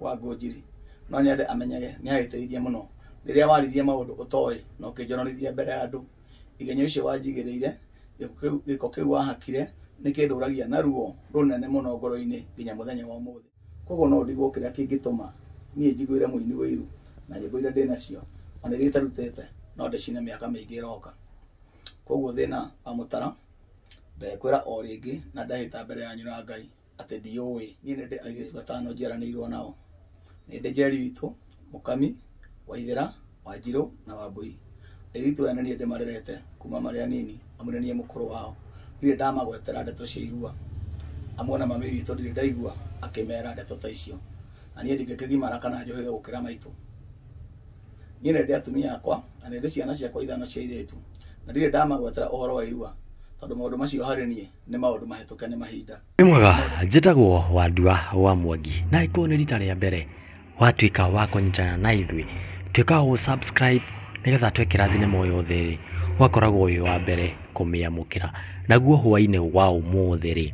wa Ngũnjiri no nyende amenyage nĩ agĩteithia mũno rĩrĩa waririe maũndũ ũtoĩ na ũkĩnjonorithia mbere ya andũ igenyo icio wanjigĩrĩire gĩko kĩu- gĩko kĩu wahakire nĩ kĩndũragia na ruo rũnene mũno ngoro-inĩ nginya mũthenya wa ũmũthĩ koguo no ndigwo kĩrĩa kĩngĩtũma niĩ njiguĩre mũini ũiru na nyĩmbo iria ndĩ nacio ona iria itarutĩte no ndĩcine mĩaka mĩingĩ ĩroka koguo thĩna wa mũtara ndekwĩra o rĩngĩ na ndehĩta mbere yanyu na Ngai atĩ ndiũĩ niĩ nĩ ndĩ airĩtu atano njiaranĩirwo nao nĩ ndĩ njeri witũ mũkami waithera wanjirũ na wambui airĩtu aya nĩ niĩ ndĩmarerete kuma marĩ anini amu nĩ niĩ mũkũrũ wao ndirĩ ndamagwetera ndeto cia irua amu ona mami witũ ndirĩ ndaigua akĩmera ndeto ta icio na niĩ ndingĩkĩgimara kana njũhĩge gũkĩra maitũ niĩ nĩ ndĩ atumia akwa na nĩ ndĩ ciana ciakwa ithano cia airĩtu na ndirĩ ndamagwetera ũhoro wa irua tondũ maũndũ macio harĩ niĩ nĩ maũndũ mahĩtũke nĩ mahinda Wĩ mwega, njĩtagwo Wandua wa Mwangi na ĩkũũ nĩ rita rĩa mbere watuĩka wa kũnyitana na ithuĩ tuĩka wa gũ-subscribe nĩgetha twekĩra thinema o yothe rĩ ũgakoragwo wĩ wa mbere kũmĩamũkĩra naguo hwainĩ wa ũmũthĩ rĩ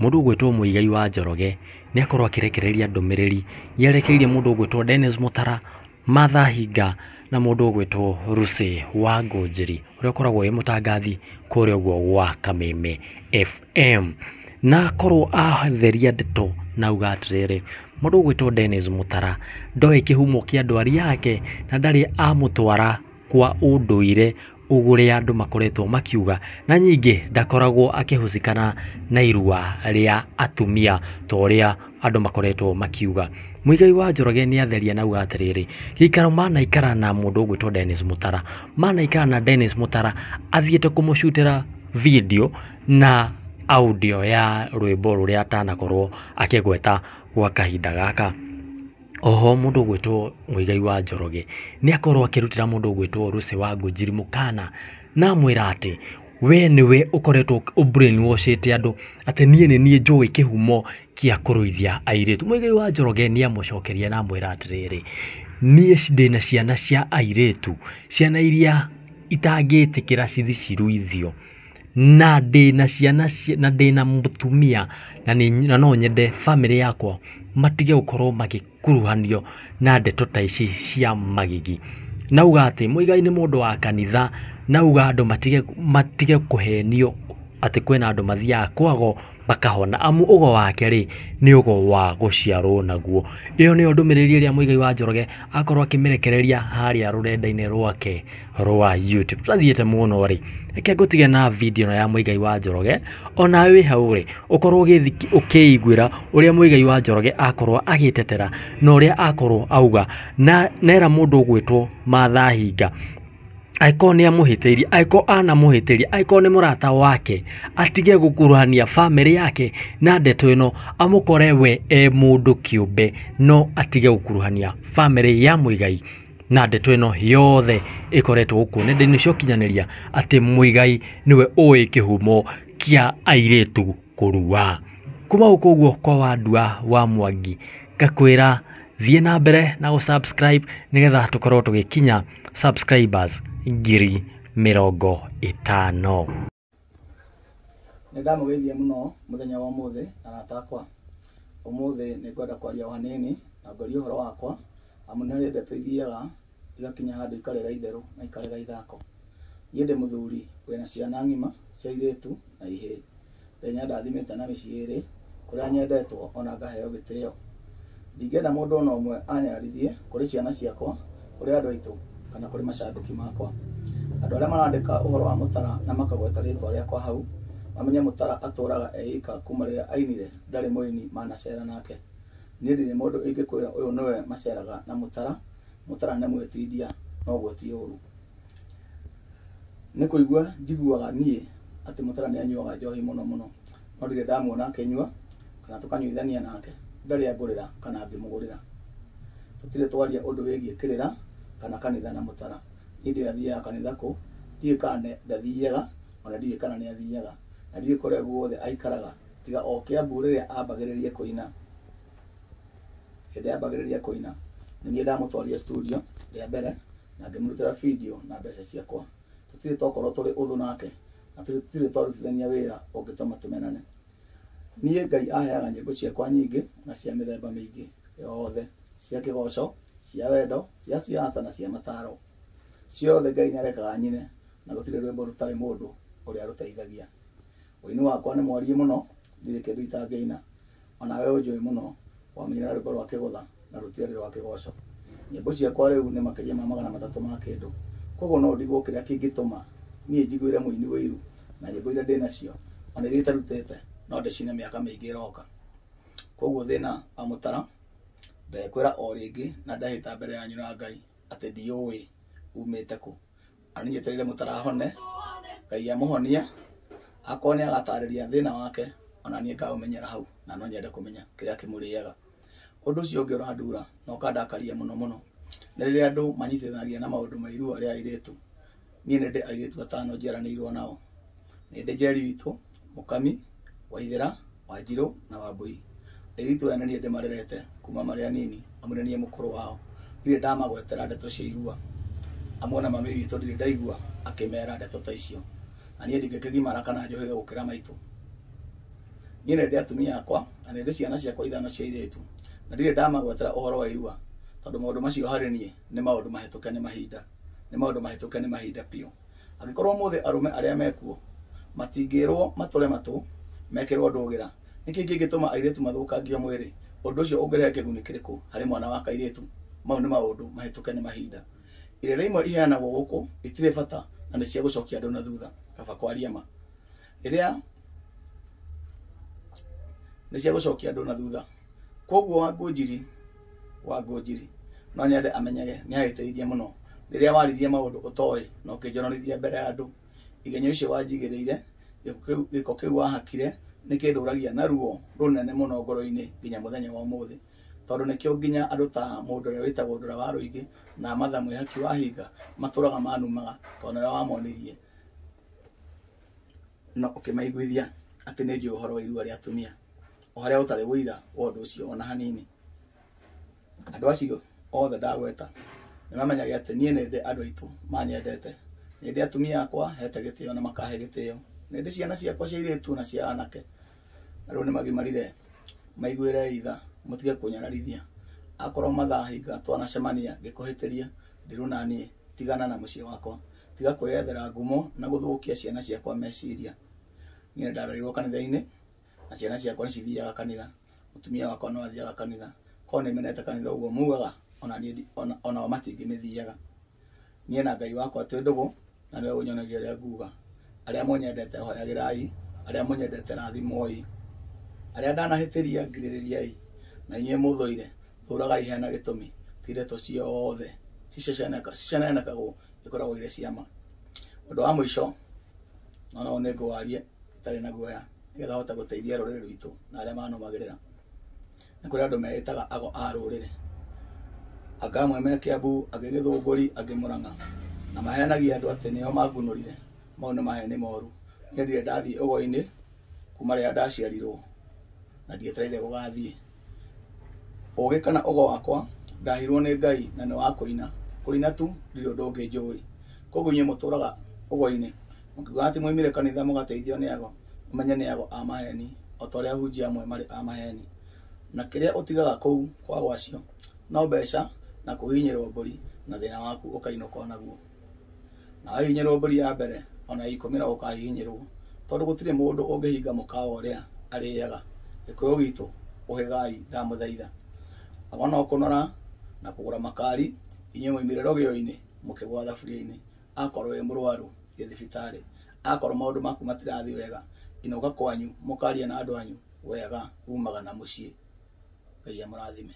mũndũ ũgwĩtwo Mũigai wa Njoroge nĩakorwo akĩrekereria ndũmĩrĩri yerekeirie mũndũ ũgwĩtwo Dennis Mũtara Martha Hinga na mũndũ ũgwĩtwo Lucy Wangũnjiri ũrĩa ũkoragwo e mũtangathi kũrĩa ũguo gwa Kameme FM. Na akorwo atheria ndeto na auga atĩrĩrĩ, mũndũ ũgwĩtwo Dennis Mũtara ndoĩ kĩhumo kĩa ndwari yake na ndarĩ amũtwara. kwa ũndũire ũrĩa andũ makoretwo makiuga, na ningĩ ndakoragwo akĩhucĩkana na irua rĩa atumia ta ũrĩa andũ makoretwo makiuga. Muigai wa Njoroge nĩ atheria na auga atĩrĩrĩ, gĩikaro manaikara na mũndũ ũgwĩtwo Dennis Mũtara, manaikara na Dennis Mũtara athiĩte kũmũcutĩra video na audio ya rwĩmbo rũrĩa atanakorwo akĩgweta gwa kahinda gaka. Oho mũndũ ũgwĩtwo Muigai wa Njoroge nĩ akorwo akĩrutĩra mũndũ ũgwĩtwo Lucy Wangunjiri mũkana na amwĩra atĩ we nĩwe ũkoretwo ũ brain wash ĩte andũ atĩ niĩ nĩ niĩ njũĩ kĩhumo gĩa kũruithia airĩtu. Muigai wa Njoroge nĩ amũcokeria na amwĩra atĩrĩrĩ, niĩ ndĩna ciana cia airĩtu, ciana iria itangĩtĩkĩra cithi ciruithio. na ndĩna ciana na ndĩna mũtumia na no nyende bamĩrĩ yakwa matige gũkorwo magĩkuruhanio na ndeto ta ici cia magigi. Na auga atĩ Muigai nĩ mũndũ wa kanitha na auga andũ matige kũhenio atĩ kwĩna andũ mathiaga kwago makahona amu ũgo wake rĩ, nĩ ũgo wa gũciarwo naguo. Ĩyo nĩyo ndũmĩrĩri ĩrĩa Muigai wa Njoroge akorwo akĩmĩrekereria harĩa rũrenda-inĩ rwake. rwa YouTube twathiĩte mũno rĩ reke ngũtige na video ĩno ya mũigai wa njoroge ona wĩ hau rĩ ũkorwo ũgĩthi- ũkĩiguĩra ũrĩa mũigai wa njoroge akorwo agĩtetera na ũrĩa akorwo auga na nera mũndũ ũgwĩtwo matha hinga angĩkorwo nĩ amũhĩtĩirie angĩkorwo anamũhĩtĩria angĩkorwo nĩ mũrata wake atige gũkuruhania bamĩrĩ yake na ndeto ĩno amũkore we e mũndũ kĩũmbe no atige gũkuruhania bamĩrĩ ya mũigai na ndeto ĩno yothe ĩkoretwo gũkũ nenda-inĩ cia ũkinyanĩria atĩ Mũigai nĩwe ũĩ kĩhumo kĩa airĩtu kũrua. Kuma gũkũ ũguo kwa Wandua wa Mwangi ngakwĩra thiĩ na mbere na gũ subscribe nĩgetha tũkorwo tũgĩkinya subscribers ngiri mĩrongo ĩtano. Nĩ ndamũgeithia mũno mũthenya wa ũmũthĩ arata akwa. Ũmũthĩ nĩ ngwenda kwaria o hanini na ngwarie ũhoro wakwa amu nĩ harĩ ndeto ithiaga igakinya handũ ikarega itherũ na ikarega ithako. Niĩ ndĩ mũthuri wĩna ciana ng'ima cia airĩtu na ihĩĩ. Ngai nĩ andathimĩte na mĩciĩ ĩrĩ kũrĩa nyendetwo o na ngaheo gĩtĩo. Ndingĩenda mũndũ o na ũmwe anyararithie kũrĩ ciana ciakwa, kũrĩ andũ aitũ, kana kũrĩ macambĩki makwa. Andũ arĩa marandĩka ũhoro wa Mũtara na makagweta rĩĩtwa rĩakwa hau, mamenye Mũtara atũũraga e ika kuuma rĩrĩa ainire, ndarĩ mũini manaceera nake. Niĩ ndirĩ mũndũ ingĩkwĩra ũyũ nĩwe maceeraga na Mũtara, Mũtara nĩ mwĩtindia, noguo ti ũũru. Nĩ kũigua njiguaga niĩ atĩ Mutara nĩ anyuaga njohi mũno mũno, no ndirĩ ndamuona akĩnyua kana tũkanyuithania nake, ndarĩ angũrĩra kana ngĩmũgũrĩra. Tũtirĩ twaria ũndũ wĩgiĩ kĩrĩra kana kanitha na Mutara. Niĩ ndiũĩ athiaga kanitha kũ, ndiũĩ kana ndathiaga, o na ndiũĩ kana nĩ athiaga, na ndiũĩ kũrĩa guothe aikaraga, tiga o Kiambu rĩrĩa ambagĩrĩria kũina. Hĩndĩ ambagĩrĩria kũina, nĩ niĩ ndamũtwarire studio rĩa mbere. na ngĩmũrutĩra video na mbeca ciakwa. Tũtirĩ tokorwo tũrĩ ũthũ nake na tũtirĩ twarutithania wĩra ũngĩtũma tũmenane. Niĩ Ngai aheaga nyĩmbo ciakwa nyingĩ na cia mĩthemba mĩingĩ yothe, cia kĩgoco, cia wendo, cia siasa na cia mataro. Ciothe Ngai nĩarekaga nyine na gũtirĩ rwĩmbo rũtarĩ mũndũ ũrĩa rũteithagia. Ũini wakwa nĩ mwariĩ mũno, ndirĩ kĩndũ itangĩina. O nawe ũnjũĩ mũno. Wamũinĩra rwĩmbo rwa kĩgũtha, na rũtiarĩ rwa kĩgooco. Nyĩmbo ciakwa rĩu nĩ makĩria ma magana matatũ ma kĩndũ. Kwoguo no ndigwo kĩrĩa kĩngĩtũma niĩ njiguĩre mũini ũiru, na nyĩmbo iria ndĩ nacio, o na iria itarutĩte, no ndĩcine mĩaka mĩingĩ ĩroka. Kwoguo thĩna wa mũtara, ndekwĩra o rĩngĩ na ndehĩta mbere yanyu na Ngai, atĩ ndiũũĩ uumĩte kũ. na nĩnyetereire mũtarahone ngai amũhonie akorwo nĩ agatarĩria thĩna wake ona niĩ ngaũmenyera hau na no nyende kũmenya kĩrĩa kĩmũrĩaga ũndũ ũcio ũngĩ ũrandura na ũkandakaria mũno mũno nĩ rĩrĩa andũ manyitithanagia na maũndũ ma irua rĩa airĩtu niĩ nĩ ndĩ airĩtu atano njiaranĩirwo nao nĩ ndĩ njeri witũ Mũkami, Waithera, Wanjirũ na Wambũi. Airĩtu aya nĩ niĩ ndĩmarerete kuma marĩ anini amu nĩ niĩ mũkũrũ wao. Ndirĩ ndamagwetera ndeto cia irua amu ona mami witũ ndirĩ ndaigua akĩmera ndeto ta icio. Na niĩ ndingĩkĩgimara kana njũhĩge gũkĩra maitũ. Niĩ nĩ ndĩ atumia akwa na nĩ ndĩ ciana ciakwa ithano cia airĩtu na ndirĩ ndamagwetera ũhoro wa irua tondũ maũndũ macio harĩ niĩ nĩ maũndũ mahĩtũke nĩ mahinda. Nĩ maũndũ mahĩtũke nĩ mahinda biũ. Angĩkorwo ũmũthĩ arũme arĩa me kuo matingĩĩrũo matũre matũ mekĩrũo ndũgĩra, nĩ kĩĩ kĩngĩtũma airĩtu mathũkangio mwĩrĩ? Ũndũ ũcio ũngĩrehe kĩguni kĩrĩkũ harĩ mwana wa kairĩtu? Mau nĩ maũndũ mahĩtũke nĩ mahinda. Irĩra imwe iheanagwo gũkũ itirĩ bata na nĩ cia gũcokia andũ na thutha. Kaba kwaria ma. rĩrĩa nĩ cia gũcokia andũ na thutha kwoguo Wangũnjiri Wangũnjiri no nyende amenyage nĩ agĩteithia mũno rĩrĩa waririe maũndũ ũtoĩ na ũkĩnjonorithia mbere ya andũ igenyo icio wanjigĩrĩire gĩko kĩu wahakire nĩ kĩndũragia na ruo rũnene mũno ngoro-inĩ nginya mũthenya wa ũmũthĩ tondũ nĩkĩo nginya andũ ta mũndũ ũrĩa wĩtagwo Ndũra wa Rũingĩ na Martha Mwĩhaki wa Hinga matũraga manumaga tondũ nĩwe wamonirie. na ũkĩmaiguithia atĩ nĩ njũĩ ũhoro wa irua rĩa atumia o harĩa ũtarĩ ũira wa ũndũ ũcio ona hanini andũ acio othe ndagweta nĩmamenyage atĩ niĩ nĩndĩ andũ aitũ manyendete nĩndĩ atumia akwa hete gĩtĩo na makahe gĩtĩo nĩndĩ ciana ciakwa cia airĩtu na cia anake rĩu nĩ magimarire maiguĩre itha mũtige kũnyararithia akorwo mathaa hinga twanacemania ngĩkũhĩtĩria ndirũ na niĩ tigana na mũciĩ wakwa tiga kwĩyethera ngumo na gũthũkia ciana ciakwa meciria niĩ nĩ ndarerirwo kanitha-inĩ na ciana ciakwa nĩ cithiaga kanitha mũtumia wakwa no athiaga kanitha korwo nĩ menete kanitha ũguo mugaga ona niĩ ndi- ona- onao matingĩmĩthiaga niĩ na ngai wakwa twĩ ndũgũ na nĩwe ũnyonagia ũrĩa nguga arĩa mũnyendete hoyagĩrai arĩa mũnyendete rathimoi arĩa ndanahĩtĩria ngirĩrĩriai na inyuĩ mũthũire thũragai hena gĩtũmi ti ndeto ciothe ciceceneka- cicenenekagwo ikoragwo irĩ ciama ũndũ wa mũico na no nĩ ngũwarie itarĩ na guoya nĩgetha hote gũteithia rũrĩrĩ rwitũ na arĩa manũmagĩrĩra nĩ kũrĩ andũ meĩtaga ago a rũrĩrĩ anga amwe me kĩambu angĩ gĩthũngũri angĩ mũrang'a na maheanagia andũ atĩ nĩo mangunũrire mau nĩ maheni moru niĩ ndirĩ ndathiĩ ũgo-inĩ kuma rĩrĩa ndaciarirwo na ndietereire gũgathiĩ ũgĩ kana ũgo wakwa ndahirwo nĩ ngai na nĩ wa kũina kũina tu ndirĩ ũndũ ũngĩ njũĩ koguo inyuĩ mũtũraga ũgo-inĩ mũkiugaga atĩ mwaumire kanitha mũgateithio nĩ ago ũmenye nĩ ago a maheni o ta ũrĩa ahunjia amwe marĩ a maheni na kĩrĩa ũtigaga kũu kwa gwacio no mbeca na kũhinyĩrwo mbũri na thĩna waku ũkainũka o naguo na wahinyĩrwo mbũri ya mbere o na ya ikũmi no ũkahinyĩrwo tondũ gũtirĩ mũndũ ũngĩhinga mũkawa ũrĩa arĩaga gĩkũyũ gitũ ũhĩgai ndamũthaitha ago no kũnora na kũgũra makari inyuĩ mwaimire rũgĩo-inĩ mũkĩgwa thaburia-inĩ akorwo wĩ mũrwaru thiĩ thibitarĩ Akorwo maũndũ maku matirathiĩ wega, inũka kwanyu mũkarie na andũ anyu wega umaga na mũciĩ. Ngai amũrathime.